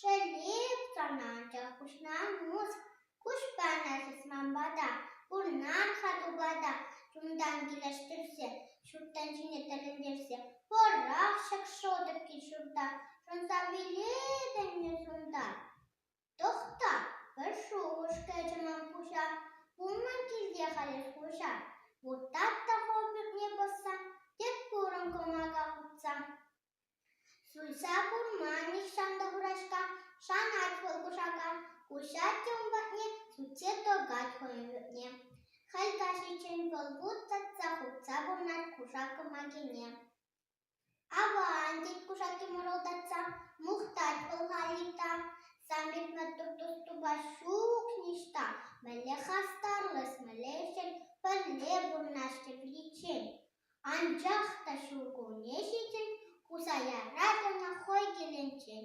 Шеллев канатӗ хушма муск, куҫпана сысманпа та, пурнан хатупа та чунтан килӗштерсе, ҫуртан ҫине тӗлӗнтерсе пӑрах ҫакшотӑкки ҫурта шӑнса вилетӗннӗ сунтар. Тӑхта, пӗр шухӑш кӗчӗ ман пуҫа, пулман килте халех куҫа. Вуттат та хол пӳртне пӑсса, тек курӑн кӑмака хутса. Суйса курма нихҫан та курашка, шанать вӑл кушака, куҫать те ун патне, сутсе тӑкать хӑйӗн ретне. Халь каҫиччен вӑл вут татса-хутса пурӑнать кушак кӑмакине. «Аван!» тет кушаки мӑшӑлтатса, мухтать вӑл Халита. Сан пек маттур тус-тупа ҫук ниҫта, мӗнле хастарлӑс, мӗнле ӗҫчен, пӗрле пурӑнаҫҫӗ пӗриччен. Анчах та ҫуркунне ҫитӗн Кусая Радана хӑй килӗнчен.